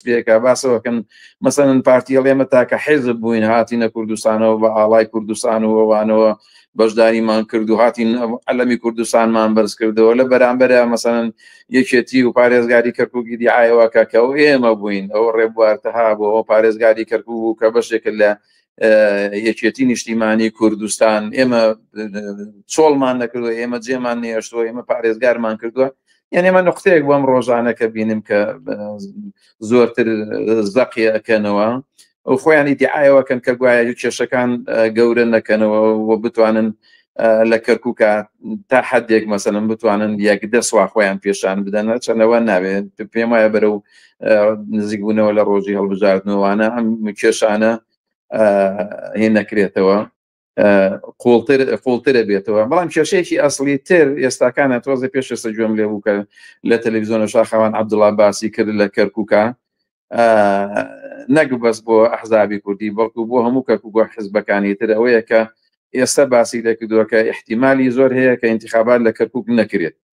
پێکا باسەوەکەن مەسەن پارتیە لێمە تاکە حێزب بووین هاتینە کوردستانەوە بە ئاڵای کوردستان و وانەوە بەشداریمان کرد و هاتین ئەلەمی کوردستانمان بەرز کردەوە لە بەرامبەرە مەسەن یەکێتی و پارێزگاری کەرکووکی دیعاەوەکە کە ئەو ئێمە بووین ئەو ڕێبوارتەها بۆ ئەو پارێزگاری کەرکوو بوو کە بەشێکە لە یەکێتی نیشتیمانی کوردستان ئێمە چۆڵمان نەکردوە ئێمە جێمان نێشتوە ئێمە پارێزگارمان کردووە یعنی ئمە نقطەیەک بۆم ڕۆژانەکە بینم کە زۆرتر زەقیەکەنەوە ئەو خۆیانی دیعاەوەکەن کە گوایە کێشەکان گەورە نەکەنەوە و بتوانن لە کەرکووکە تا حدێک مەسەن بتوانن یەک دەسوا خۆیان پێشان بدەنە چەنەوە ناوێت پێم وایە بەرە و نزیکبوونەوە لە ڕۆژی هەڵبژاردنەوەوانە ئەم کێشانە هێ نەکرێتەوە قوڵتر قوڵترە بێتەوە بەڵام کێشەیەکی ئەاصلی تر ئێستاکانە تۆزە پێش ئێستا گوێم لێ بوو کە لە تەلەڤزیۆنە شاخەوان عبدوڵا باسی کرد لە کەرکووکە نەک بەس بۆ ئەحزابی کوردی بەڵکو بۆ هەموو کەکو بۆ حزبەکانی تر ئەوەیە کە ئێستا باسی دەکردووە کە احتیممالی زۆر هەیە کە انتخابات لە کەرکک نەکرێت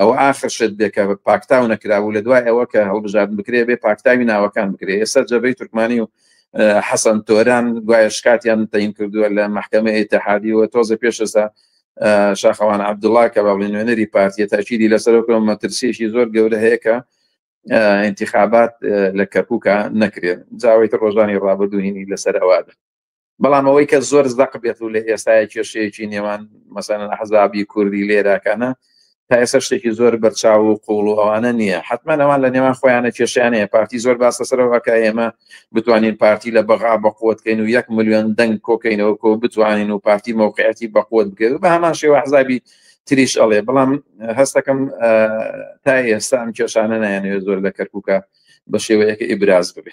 ئەوە ئاخر شت بێ کە پاکتاو نەکرابوو لە دوای ئەوە کە هەڵبژاردن بکرێ بێ پاکتاوی ناوەکان بکرێ ئێستا جەبەی تورکمانی و حەسەن تۆران گوایە شکاتیان تەین کردووە لە محکمە ئتحادیوە تۆزە پێشستا شاخەوان عبدوڵا کە بە بڵێ نوێنەری پارتیە تاکیدی لەسەرکەم مەترسیشی زۆر گەورە هەیە کە انتخابات لە کەپوکە نەکرێت جاوەی ڕۆژانی ڕابدوهینی لەسەر ئەوادە بەڵام ئەوەی کە زۆر زەق بێت و لە ئێستاە کێشەیەکی نێوان مەسەن حەزابی کوردی لێراکانە تا ئێستا شتێکی زۆر بەرچاو و قوڵ و ئەوانە نییە حتمما ئەوان لە نێوان خۆیانە کێشیانەیە پارتی زۆر باس لەسەرەوەکە ئێمە بتوانین پارتی لە بەغا بەقوتکەین و یەک میلیۆن دەنگ کۆکەینەوە کۆ بتوانین و پارتی مووقعەتی بەقوت بگەێت بە هەمان شێوە حزابی تریش ئەڵێ بەڵام هەستەکەم تا ئێستا ئەم کێشانە نایەنەوێت زۆر لە کەرکووکە بە شێوەیەکە ئیبراز ببێت